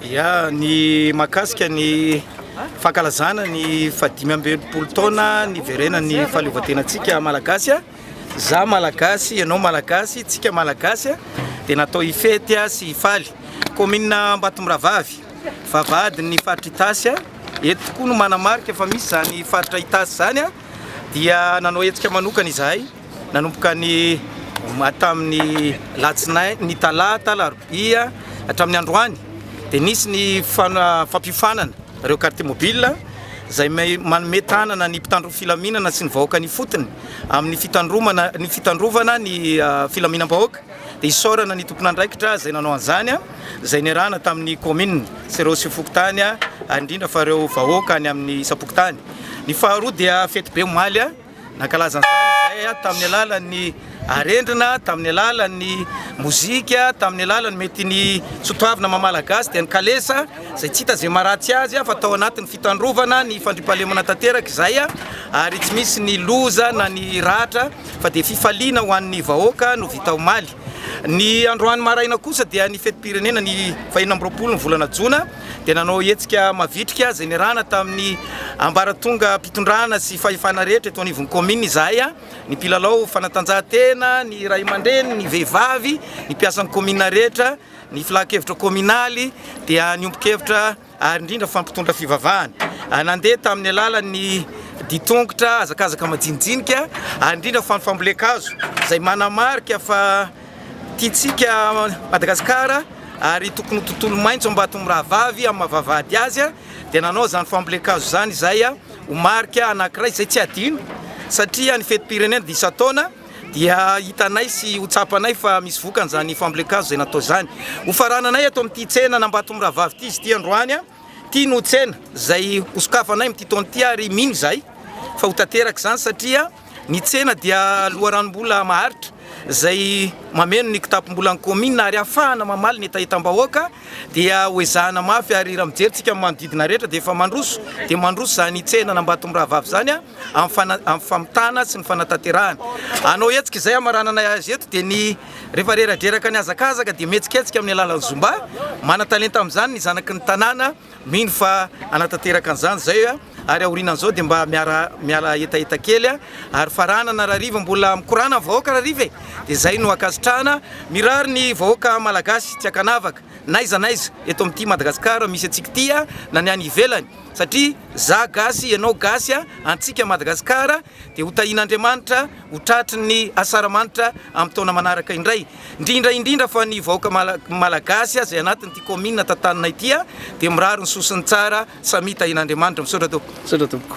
Ya, ny mahakasika ny fankalazana ny fahadimy amby enimpolo taona niverenan'ny fahaleovantenantsika Malagasy, za Malagasy, ianao Malagasy, tsika Malagasy dia natao hifety sy hifaly. Kaominina Ambatomirahavavy, vavahadin'ny faritra Itasy, eto tokoa no manamarika fa misy izany faritra Itasy izany dia nanao hetsika manokana izahay. Nanomboka ny tamin'ny alatsinainy, ny talata, alarobia hatramin'ny androany dia nisy ny fampiofanana ireo carte mobile izay manome tanana ny mpitandro ny filaminana sy ny vahoaka ny ifotony amin'ny fitandromana ny fitandrovana ny filaminam-bahoaka dia isaorana ny tompon'andraikitra izay nanao an'izany izay niarahana tamin'ny kaominina sy ireo sy fokontany ary indrindra fa ireo vahoaka any amin'ny isam-pokontany. Ny faharoa dia fetibe omaly. Nankalaza an'izany izahay tamin'ny alalan'ny arendrina, tamin'ny alalan'ny mozika, tamin'ny alalan'ny mety ny soatoavina maha Malagasy dia ny kalesa izay tsy hita izay maharatsy azy fa tao anatin'ny fitandrovana ny fandriampahalemana tanteraka izay ary tsy misy ny loza na ny ratra fa dia fifaliana ho an'ny vahoaka no vita omaly. Ny androany maraina kosa dia ny fetim-pirenena ny fahenina amby roapolo ny volana jona dia nanao hetsika mavitrika izay niarahana tamin'ny ambaratongam-pitondrana sy fahefana rehetra eto anivon'ny kaominina izahay, ny mpilalao fanatanjahantena, ny ray aman-dreny, ny vehivavy, ny mpiasan'ny kaominina rehetra, ny filankevitra kaominaly dia niombon-kevitra. ary indrindra fa mpitondra fivavahana, nandeha tamin'ny alalan'ny ditongotra, hazakazaka majinijinika, ary indrindra fa ny fambolen-kazo izay manamarika fa tiantsika Madagasikara ary tokony ho tontolo maitso Ambatomirahavavy amin'ny maha-vavahady azy dia nanao izany fambolen-kazo izany izay ho marika anankiray izay tsy adino satria ny fetim-pirenena dia isan-taona. dia hitanay sy ho tsapanay fa misy vokany izany fambolen-kazo izay natao izany. Ho farananay eto amin'ity tsena an'Ambatomirahavavy ity izy ity androany. Ity no tsena izay hosokafanay amin'ity taona ity ary mino izahay fa ho tanteraka izany satria ny tsena dia loharanom-bola maharitra izay mameno ny kitapom-bolan'ny kaominina ary hafahana mamaly ny hetahetam-bahoaka dia hoezahana mafy ary raha mijery tsika amin'ny manodidina rehetra dia efa mandroso dia mandroso izany tsena an'Ambatomirahavavy izany. amin'ny famitana sy ny fanatanterahana. Hanao hetsika izay hamaranana azy eto dia ny rehefa reradreraka ny hazakazaka dia mihetsiketsika amin'ny alalan'ny zumba. Manan-talenta amin'izany ny zanaky ny tanàna, mino fa hanatanteraka an'izany izay ary aorianan'izao dia mba miara miala hetaheta kely ary faranana rahariva mbola mikorana ny vahoaka rahariva e! dia izay no ankasitrahana, mirary ny vahoaka malagasy tsy ankanavaka n'aiza n'aiza eto amin'ity Madagasikara misy antsika ity na ny any ivelany. satria za gasy ianao gasy a antsika Madagascar dia ho tahin'Andriamanitra ho tratry ny asaramanitra am taona manaraka indray ndrindra indrindra fa ny vahoaka malagasy a zay anatiny ty commune tantanina ity a dia mirary ny sosiny tsara samia tahin'Andriamanitra misaotra tompoko.